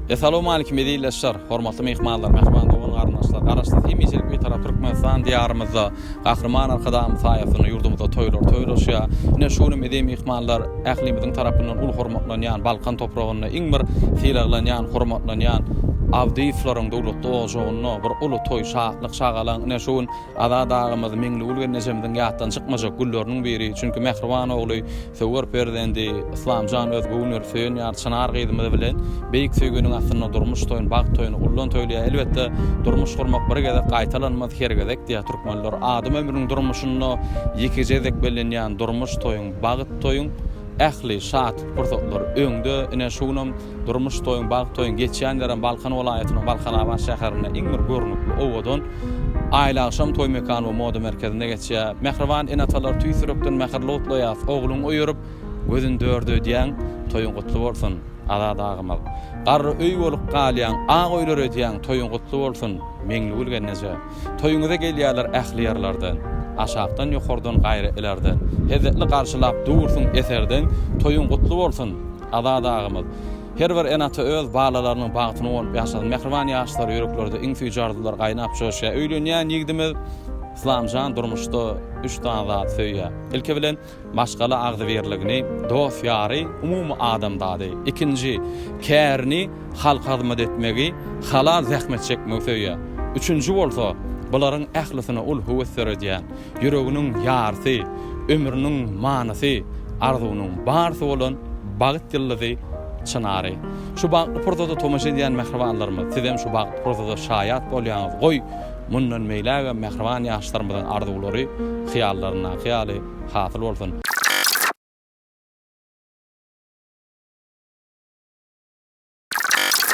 Essalamu aleýkum eziz ildeşler, hormatly myhmanlar, mähriban dogan garyndaşlar. Garaşsyz hemişelik bir tarap Türkmenistan diýarymyzda Gahryman Arkadagymyz saýasynda ýurdumyzda toýlar toýlaşýar. Ine şu gün eziz myhmanlar ählimiziň tarapyndan uly hormatlanýan Balkan topragynda iň bir sylaglanýan, hormatlanýan Abdyýewleriň döwletli ojagyna bir uly toý, şatlyk Çagalaň ine şu gün Azat agamyz, Meňligül gelnejemiziň ýatdan çykmajak gülleriniň biri, çünki mähriban ogly, söwer perzendi Yslamjan öz göwün berip söýen ýary Çynar gyzymyz bilen beýik söýginiň astynda durmuş toýuny, bagt toýuny ullan toýlaýar. Elbetde, durmuş gurmak bir gezek gaýtalanmaz, her gezek diýýär türkmenler. Adam ömrüniň durmuşynda ýekeje gezek bellenýän durmuş toýuň, bagt toýuň ähli şatly pursatlary öňde. Ine şu günem Durmuş toýuň, bagt toýuň geçýän ýerem Balkan welaýatynyň Balkanabat şäherinde iň bir görnükli, owadan Aýlagşam toý mekany we moda merkezinde geçýär. Mähriban ene-atalary tüýs ýürekden mähirli gutlaýarys, ogluň öýerip, gözün dörde öýdýäň, toýuň gutly bolsun, Azat agymyz! Garry öý bolup galýaň, ak öýler öýdýäň, toýuň gutly bolsun, Meňligül gelneje! Toýuňyza gelýärler ähli ýerlerden, aşakdan, ýokardan, gaýry ilerden, hezzetli garşylap dursuň eserdeň, toýuň gutly bolsun! Azat agamyz. Her bir ene ata öz balalarynyň bagtyna uwanyp ýaşasyn mähriban ýaşlar ýüreklerde iň süýji arzuwlar gaýnap joşýar öýlenýän ýigdimiz Yslamjan durmuşda üç sany zady söýýär ilki bilen maşgala agzybirligini dost ýary umumy adamzady ikinji kärini halka hyzmat etmegi halal zähmet çekmegi söýýär üçünji bolsa bularyň ählisine uly höwes döredýän ýüreginiň ýarysy, ömrüniň manysy, arzuwynyň barysy bolan Bagt ýyldyzy Çynary. Şu bagtly pursada tomaşa edýän mähribanlarymyz, sizem şu bagtly pursada şaýat bolýaňyz, goý, mundan beýlägem mähriban ýaşlarymyzyň arzuwlary hyýallaryndaky ýaly hasyl bolsun!